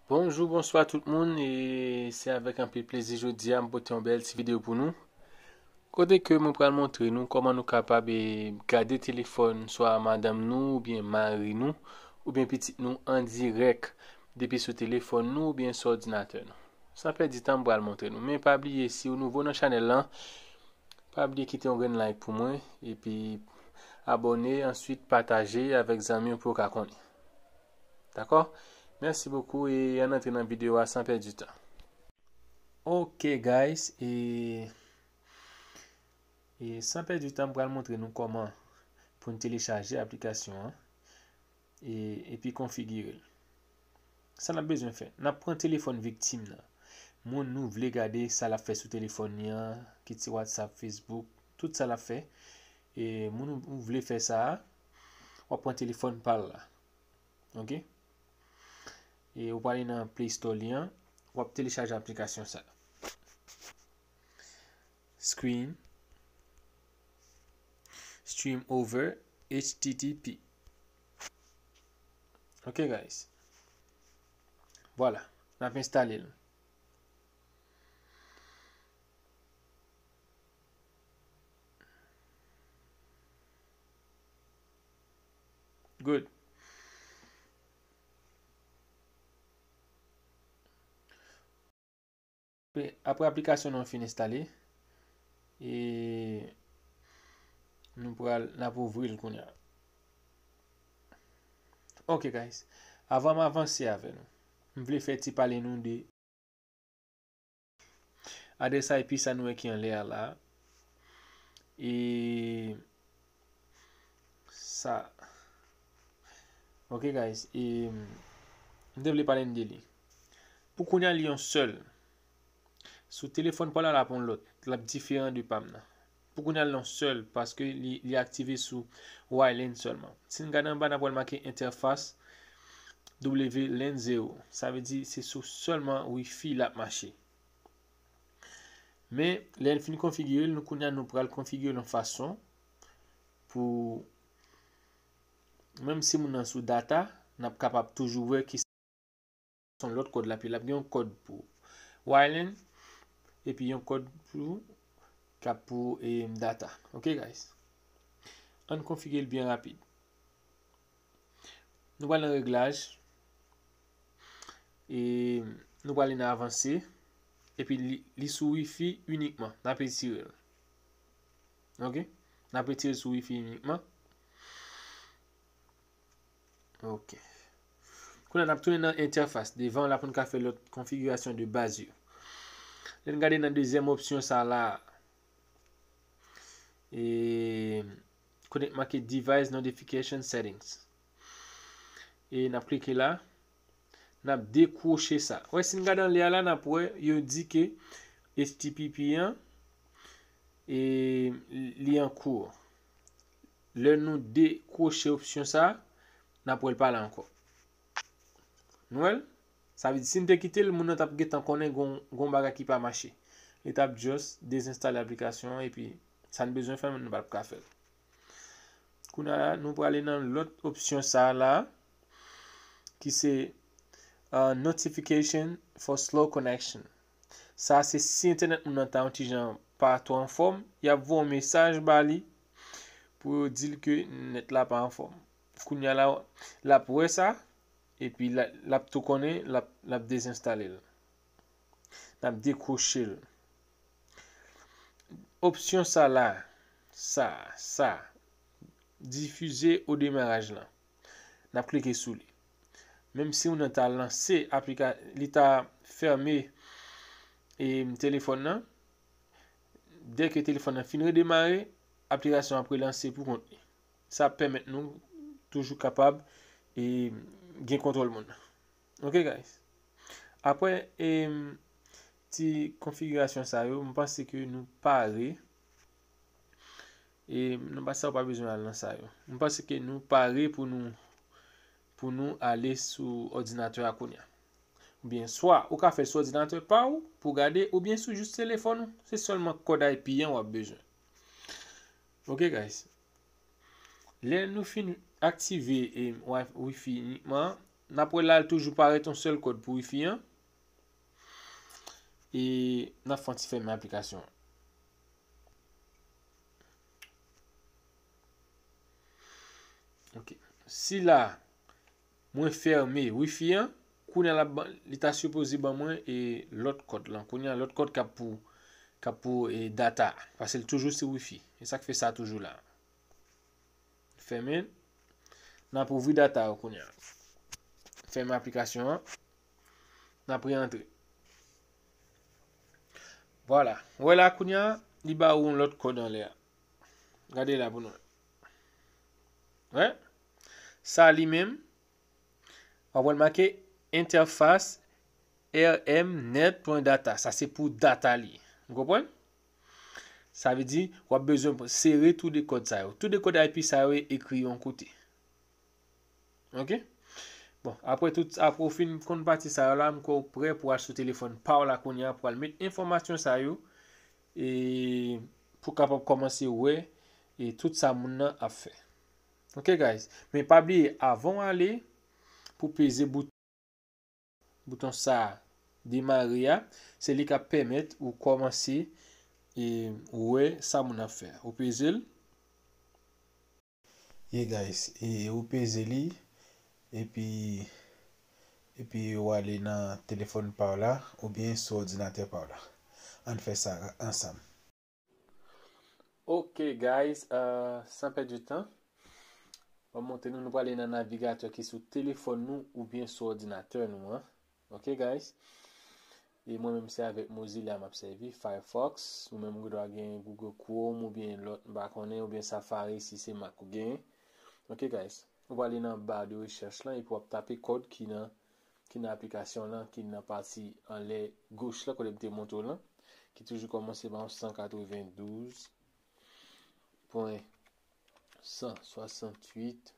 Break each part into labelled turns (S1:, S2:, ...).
S1: Bonjou bonswa tout moun e se avèk anpil plezi jodi a m pote yon bèl ti videyo pou nou kote ke mwen pral montre nou kòman nou kapab e gade telefòn swa madanm nou oubyen mari nou oubyen pitit nou an dirèk depi sou telefòn nou oubyen sou òdinatè nou san pèdi tan m pral montre nou men pa bliye si ou nouvo nan chanèl lan pa bliye kite yon grenn like pou mwen epi abòne answit pataje avèk zanmi ou pou yo ka konnen. Dakò? Merci beaucoup e ann antre nan video a san pèdi tan. Ok guys e e san pèdi tan m pral montre nou kòman pou n telechaje aplikasyon an e epi konfigire l. Sa n ap bezwen fè? N ap pran telefòn viktim nan, moun nou vle gade sa l ap fè sou telefòn li an, kit se whatsapp, facebook, tout sa l ap fè e moun ou vle fè sa a, Wap pran telefòn pal la. Ok. E ou pale nan play store li an. Wap telechaje aplikasyon sa. Screen. Stream over. HTTP. Ok guys. Vwala. Nap installe l. Good. Apre aplikasyon nou an fin enstale, e nou pral n ap ouvri l kounye a. Ok guys, avan m avanse avè nou, m vle fè ti pale nou de. Adrès IP sa nou wè ki anlè a la. E sa. Ok guys. E m te vle pale n de li. Pou kounye a li yon sèl. Sou telefòn pa w la l ap yon lòt. L ap diferan de pa m nan. Pou kounya l nan sèl paske li aktive sou Ylane sèlman. Si n gade anba n ap wè l make entèfas Wlane 0. Sa vle di se sou sèlman wifi l ap mache. Men lè n fin konfigire l nou kounya nou pral konfigire l yon fason pou menm si moun nan sou data n ap kapab toujou wè ki. Son lòt kòd lapi lap gen yon kòd pou wireline epi yon kòd pou kap pou e data ok guys ann konfige l byen rapid nou pral nan reglaj e nou pral nan avanse epi li sou wifi unikman nap etire l ok nap etire l sou wifi unikman Ok. Koulè nap tounen nan entèfas. Devan la pou n ka fè lòt konfigirasyon de baz yo. Lè n gade nan dezyèm opsyon sa la. E kote k make device notification settings. E nap klike la. Nap dekwoche sa. Wè si n gade anlè a la nap wè yo di ke HTPP an e li an kou. Lè nou dekwoche opsyon sa, n ap wè l pa la ankò. Nou wè l? Sa vle di si n te kite l, moun nan t ap gentan konnen gen yon bagay ki pa mache. Li t ap just dezenstale aplikasyon an epi sa n bezwen fè nou pa t ap ka fè l. Kounye a, nou prale nan lòt opsyon sa la ki se Notification for slow connection. Sa se si entènèt moun nan ta yon ti jan pa twò anfòm, y ap voye yon mesaj ba li pou yo di l ke nèt la pa anfòm. Kounye a la, l ap wè sa epi l ap tou konnen l ap dezenstale l. L ap dekwoche l. Opsyon sa la, sa, sa, difize odemaraj lan. Nap klike sou li. Menm si ou nan ta lanse aplika li ta fème e telefòn nan. Dè ke telefòn nan fin redemare, aplikasyon ap relanse pou kont li. Sa ap pèmèt nou toujou kapab e gen kontwòl moun nan. Ok guys. Aprè e ti konfigirasyon sa yo, m panse ke nou pare. E nan bat sa ou pa bezwen al nan sa yo. M panse ke nou pare pou nou pou nou ale sou òdinatè a kounya. Oubyen swa ou ka fèl sou òdinatè pa ou pou gade oubyen sou jis telefòn ou. Se sèlman kòd IP an wap bezwen. Ok guys. Lè nou fin aktive e wifi inikman an, nap wè lal toujou parèt yon sèl kòd pou wifi an. E nap fè yon ti fèmen aplikasyon an. Ok. Si la, mwen ferme wifi an, kounye la li ta supposé ban mwen e lot kod lan. Kounye a lot kod kap pou kap pou e data. Pase l toujou sou wifi. E sak fe sa toujou la. Ferme. Nan pou ouvri data yo kounye a. Ferme aplikasyon an. Nan pre antre. Vwala. Ou wè la kounye a, li ba ou yon lòt kòd anlè a. Gade la pou nou wè. Wè? Sa li menm, wap wè l make entèfas rmnet.data. Sa se pou data li. Ou konprann? Sa vle di, wap bezwen sere tou de kòd sa yo. Tou de kòd IP sa yo ekri yon kote. Ok. Bon, apre tout, apre ou fin konn pati sa yo la, m kwè ou prè pou al sou telefòn pa w la kounye a pou al met enfòmasyon sa yo e pou kapab kòmanse wè e tout sa moun nan ap fè. Ok guys. Men pa bliye avan w ale pou peze bouton bouton sa a demare a, se li k ap pèmèt ou kòmanse e wè sa moun nan ap fè. Ou peze l.
S2: Ye guys e ou peze li epi epi ou ale nan telefòn paw la oubyen sou òdinatè paw la ann fè sa ansanm.
S1: Ok guys san pèdi tan mwen montre nou nou prale nan navigatè ki sou telefòn nou oubyen sou òdinatè nou an. Ok guys e mwen menm se avèk mozilla map sèvi firefox ou menm ou gendwa gen google chrome ou byen lòt m pa konnen ou byen safari si se mac ou gen ok guys ou prale nan bar de recherche lan epi wap tape kòd ki nan ki nan aplikasyon lan ki nan pati anlè goch la kote m te montre w lan ki toujou kòmanse ba w 192 pwen 168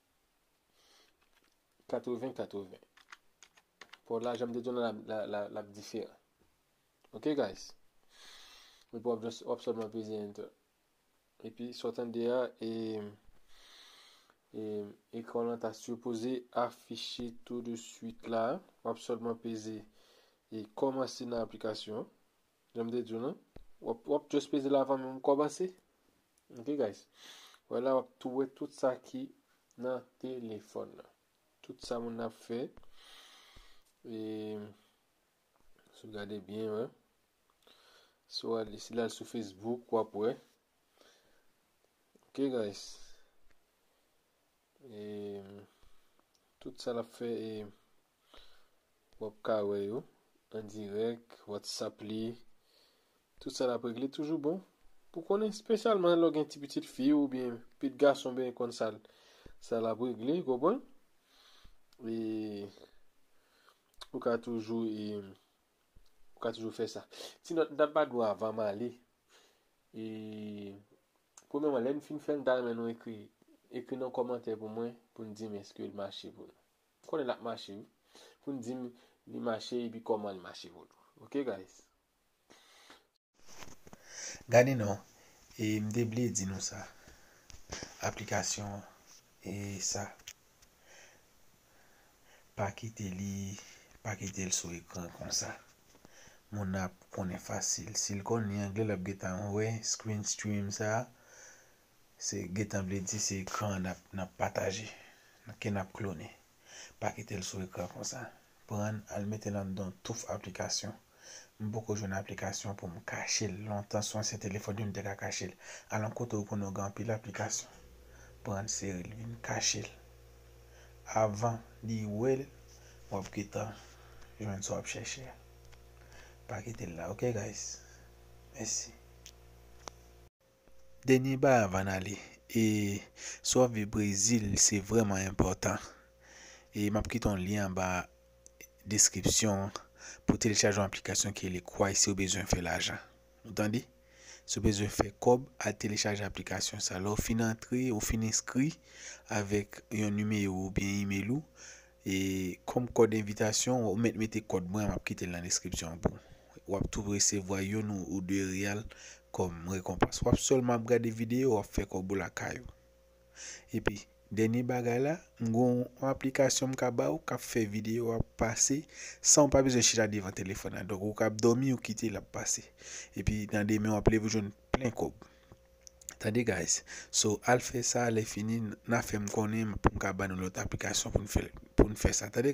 S1: 80 80 Paw la janm te di w nan la lap diferan ok guys epi wap just wap sèlman peze enter epi sa w tande a e e ekran w lan ta sipoze afiche tou de swit la wap sèlman peze e kòmanse nan aplikasyon Jan m te di w lan, w ap just peze l avan menm w kòmanse. Ok guys. Wè la w ap tou wè tout sa ki nan telefòn nan. Tout sa moun nan ap fè. E sou gade byen wè. Sou al si l al sou Facebook w ap wè. Ok guys. E tout sa l ap fè e wap ka wè yo an dirèk whatsapp li tout sa lap regle toujou bon pou konnen spesyalman lè w gen ti pitit fi ou byen pit gason byen konn sa sa lap regle konprann e ou ka toujou e ou ka toujou fè sa ti nòt mtap ba nou avan m ale e premèman lè n fin fè l mta renmen nou ekri ekri nan kòmantè pou mwen pou n di m eske l mache pou nou. M konnen lap mache wi. Pou n dim li mache epi koman l mache vodou ok guys.
S2: Gade non e m te bliye di nou sa aplikasyon e sa pa kite li pa kite l sou ekran konsa moun nan ap konnen fasil si l konn li angle lap gentan wè screen stream sa Se gentan vle di se ekran an nap pataje, ke nap klone. Pa kitel sou ekran konsa. Prann al metel anndan touf aplikasyon. M poko jwenn aplikasyon poum kachel. Lontan sou ansyen telefòn yo m te ka kachel. Al yon kote ou konnen ou gen anpil aplikasyon. Prann serel vin kachel. Avan li wel wap gentan jwenn sa wap chèche a. Pa kitel la ok guys. Mèsi. Dènye bay avan n ale e si w ap viv Brezil se vrèman enpòtan e m ap kite yon lyen anba deskripsyon an pou telechaje yon aplikasyon ki rele Kwai si w bezwen fè lajan ou tande si w bezwen fè kòb al telechaje aplikasyon sa lè w fin antre ou fin enskri avèk yon nimewo oubyen imel ou E kòm kòd envitasyon ou mèt mete kòd mwen an map kitel nan deskripsyon an pou wap tou resevwa youn ou 2 real kòm rekonpans wap sèlman ap gade video wap fè kòb ou lakay ou epi dènye bagay la m gen yon aplikasyon m ka baw kap fè video a pase sanw pa bezwen chita devan telefòn nan donk ou kap dòmi ou kitel ap pase epi nan demen wap leve ou jwenn plen kòb. Tande guys so al fè sa lè fini na fèm konnen poum ka ba nou lòt aplikasyon poun fèl poun fè sa tande.